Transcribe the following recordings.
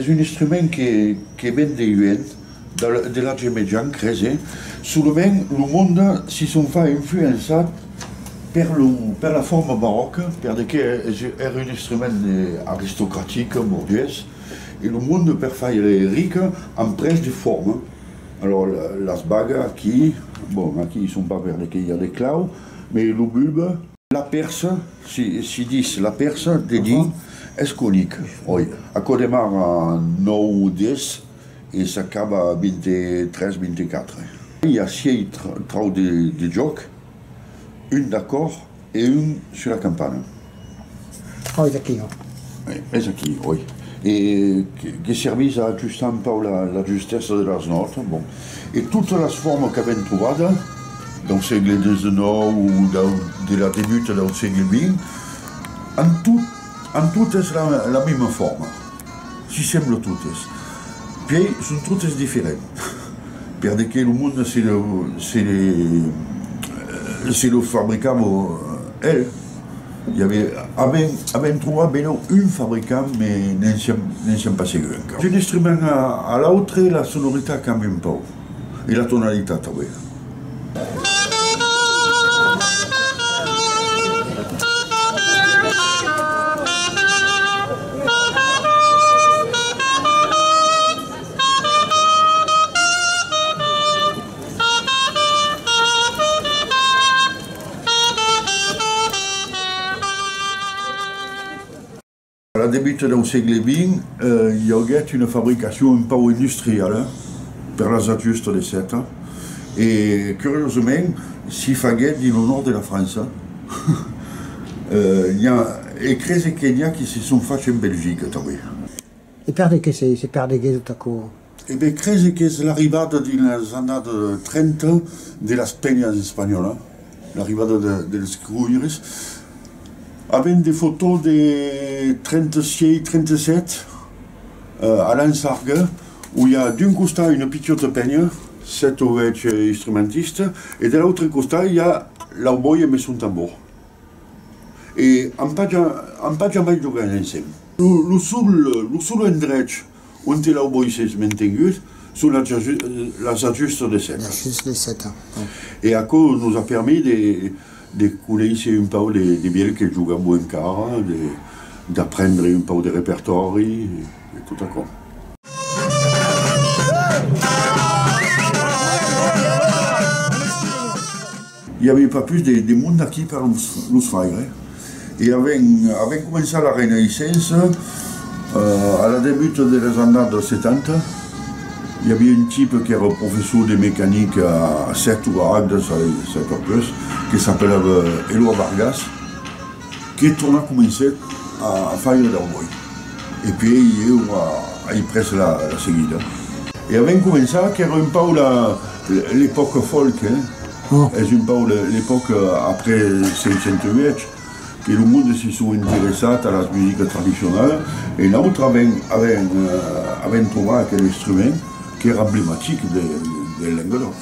Es un instrument que ven de Huent, de l'Atge Mejan, cres, e solament lo monde si son far influençar per la forma baròca, per de qué ère un instrument aristocratic, borgés, e lo monde per faire ric amb pres de forma. Alors las bagas aquí, bon, aquí son pas per de qué i a de clau, mais lo bulbe. La Pèrsa, si dis la Pèrsa, de dir es conic, oi? Aquò demarra nòu o des e s'acaba a vint-e-tres, vint-e-quatre. I a siei trau de jòc, un d'acòr e un sus la campana. Oi, es aquí, oi? Es aquí, oi? E que servís a ajustar un pauc la justèssa de las nòtas, bon, e totas las formas qu'avèm trobada dau sègle xix o de la debuta dau sègle xx, an tot, an totes la mesma forma, s'i semblan totes, puèi son totes diferents, per de que lo monde se le, se le, se le fabricam el. Avèm trobat benlèu un fabricant, mas ne'n siam pas segur encara. D'un instrument a l'autre la sonoritat cambia un pauc e la tonalitat tanben. A la debuta dau sègle vint, i aguèt una fabricacion un pauc industriala per las natures tode sèta, e curiosament s'i faguèt dins lo nòrd de la França, e crese que n'i a qui se son fach en Belgica tanben. E per de qué se perdeguèt tot aquò? E be crese qu'es l'arribada dinas annada 30 de las penhas espanholas, l'arribada dels cruïres, avèm de fotò de 36, 37 a Lansarga où i a d'un costat una pichòta penha, 7 o 8 instrumentistes, e de l'autre costat i a l'auboia mes son tambor. E an pas ja mai jogat ensèm. Lo sol, lo sol endrech. Onte lau boisses mentenguts son las ajustas de seta. L'ajust de seta, bon. E aquò nos a permés de de conéisser un pau de de vielh que jogabo encara, de d'aprendre un pau de repertòri e tot aquò. I aviá pas pus de monde aquí per los faire. E avèm començat la Renaissença a la debut deles annadas 70. I aviá un tipe qu'èra professor de mecanica a Sèrt o a Agde, se sap pas pus, que s'apelava Eloi Vargas. Que torna comencèt a faire dau bòi, e puèi eu ai pres la seguida. E a ben començar qu'èra un pauc l'epòca folk, es un pauc l'epòca après 508 que lo monde se sò interessat a las musicas tradicionalas, e nautra ben avèm trovat aquel instrument qu'èra emblematic del Lengadòc.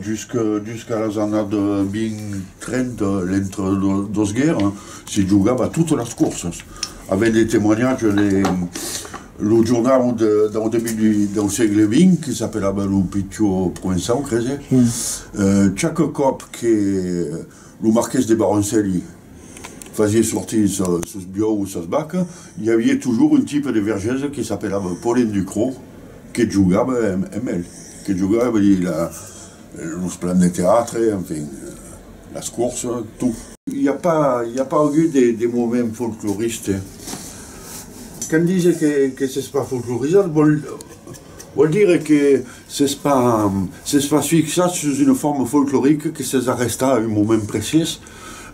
Jusqu'a las annat 20-30, l'entre dos guèrras, se jogava totas las corsas. Avèm de temoignatges de lo jornau dau debut dau sègle vint, que s'apelava lo Pitió Provençau, crese. Chaque còp que. Lo marqués de Baroncelli fasié sortir sos biòus e sas vacas, i avié tujors un tipe de vergèse que s'apelava Paulin Ducrot que jogava emb el, que jogava ve dire los plans de teatre, enfin las courses, tot. I a pas i a pas agut de moment folcloriste? Quand dise que s'es pas folclorisat vòl. Vòl dire que s'es pas, s'es pas fixat sus una forma folclorica que s'es arrestat a un moment precis,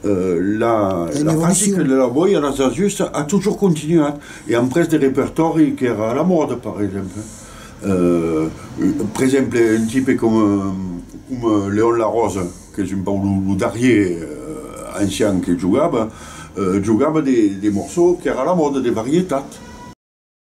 la practica de la boia las ajustas a totjorn continuat e amb pres de repertòri qu'èra a la mòda, per exemple, per exemple un tipe coma coma Leon Larose qu'es un pauc lo darrier ancian que jogava, jogava de de morçòu qu'èra a la mòda, de varietat.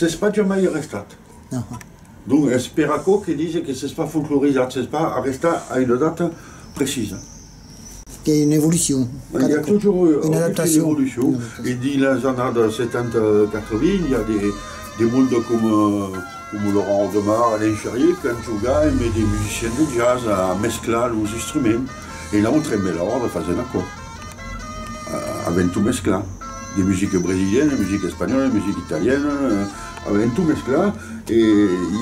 S'es pas jamai arrestat. Donc es per aquò que dise que s'es pas folclorizat, s'es pas arrestat a una data precisa. qu'ei una evolucion. Ei a totjorn una evolucion e dins las annadas setanta quatrevingt i a de monde coma Laurent Aldemar, Alain Charrier qu'an jogat emb de musiciens de jazz a mesclar los instruments e l'autre emb l'autre faser un acòrd avent tot mesclat de musica brasiliana, musica espanhòla, musica italiana avent tot mesclat e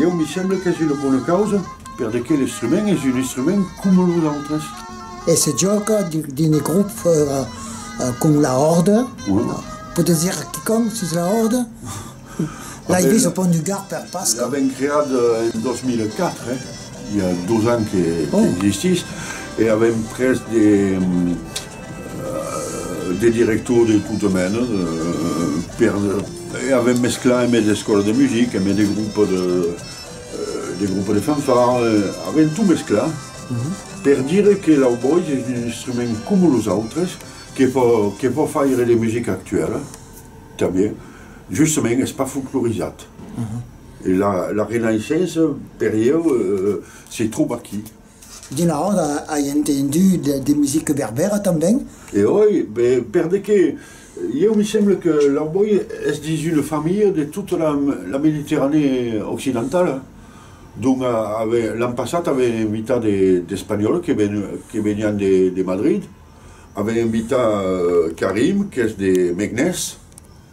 ieu me semble qu'es una bona causa. Per de qué l'instrument es un instrument coma los autres? E se jòca dins de groupes fòra com la hòrda. Podes dire a quicòm sus la hòrda? L'ai vist au Pont du Gard per Pasca. L'avèm creat en 2004, i a dos ans qu'existís, e avèm pres de directors de tota mena per e avèm mesclat emé d'escòla de musica, emé de groupes de. De grupe de fanfara, avèm tot mesclat per dire que l'aubois es un instrument coma los autres que pòt faire de musica actuèla tanben, justament es pas folclorizat e la renaissença per ieu se tròba aquí. D'una ròda ai entendut de musica berbèra tanben. E oi, be, per de qué? Ieu me semble que l'Arboy es dins una familha de tota la, la Mediterranée occidentala, donc ave, l'an passat ave invitat de, d'Espanhòls que ven, que venián de, de Madrid, ave invitat Karim qu'es de Meknès,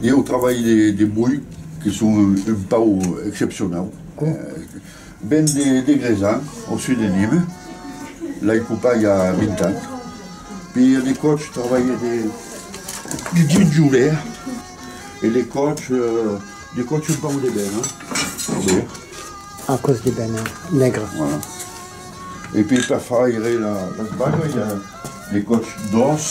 Ié au trabalh de, de boi, que son un, un pau excepcionau. Ven de, de Grezan, au sud de Nîmes. L'ai copat i a 20 ans. Puis a de còps trabalhe de, de ginjoler e de còps, de còps un pau de ben, eh? A còps de ben negre. Voilà. E puis per faire las bagas, i a de còps d'òs.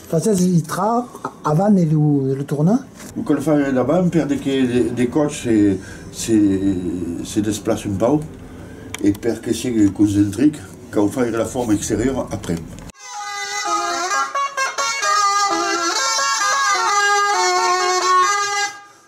Fasètz li tra avant de lo tornar. Lo cal far davant per de que de còps se desplace un pauc e per que sigue concentric cau faire la forma exteriora après.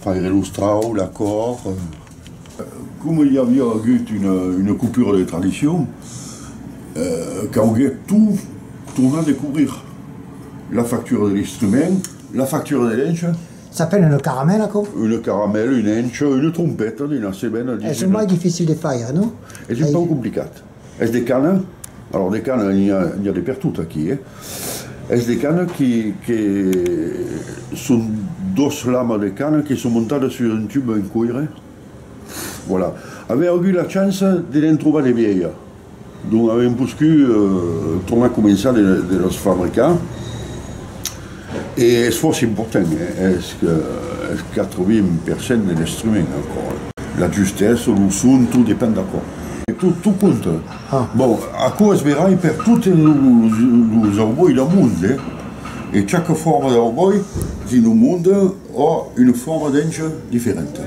Faire los traucs, la còr. Coma i aviá agut una coupure de tradicion, cauguèt tot tornar de cobrir, la factura de l'instrument, la factura de l'encha. S'apen una caramèla, aquò? Una caramèla, una encha, una trompeta de nasement, a 19. Es mai dificil de faire, non? Es un pauc complicat. Es de cana, alors de cana n'i a n'i a de pertot aquí eh. Es de cana que que son dos lamas de cana que son montadas sus un tub en coire, voilà. Avèm agut la chance de ne'n trobar de vièlha, donc avèm poscut tornar començar de de las fabricar. E es fòrça important, es qu'atrobim per cent de l'instrument ancora. La justessa, lo son, tot depend d'aquò. Tot compta. Bon, aquò es verai per totes los aubòis del mond, eh? E chaque forma d'aubòi dins lo monde a una forma d'enja diferenta.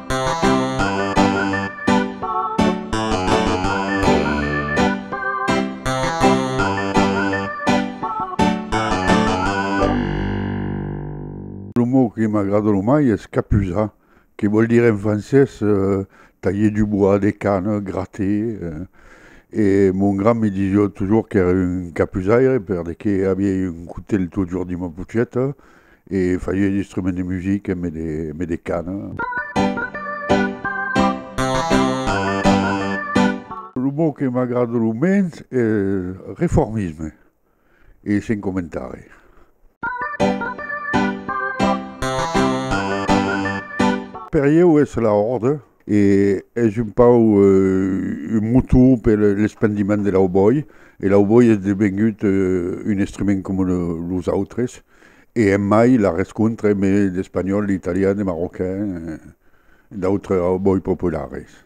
Lo mot que m'agrada lo mai es capuzar, que vòl dire en francés talher du bois, de cana, grater. E mon grand me disiá totjorn qu'èra un capuzaire perque aviá un cotelh totjorn dins ma pocheta E faie d'instruments de musica e me de cana. Lo mot que m'agrada lo mens es reformisme e sen comentari. Per ieu es la orde. E es un pauc un motor per l'espandiment de l'aubòi, e l'aubòi es devengut un estriment coma los autres, e emai la rescontre emé d'espanhòl, d'italian, de marrocain, d'autres aubòi populares.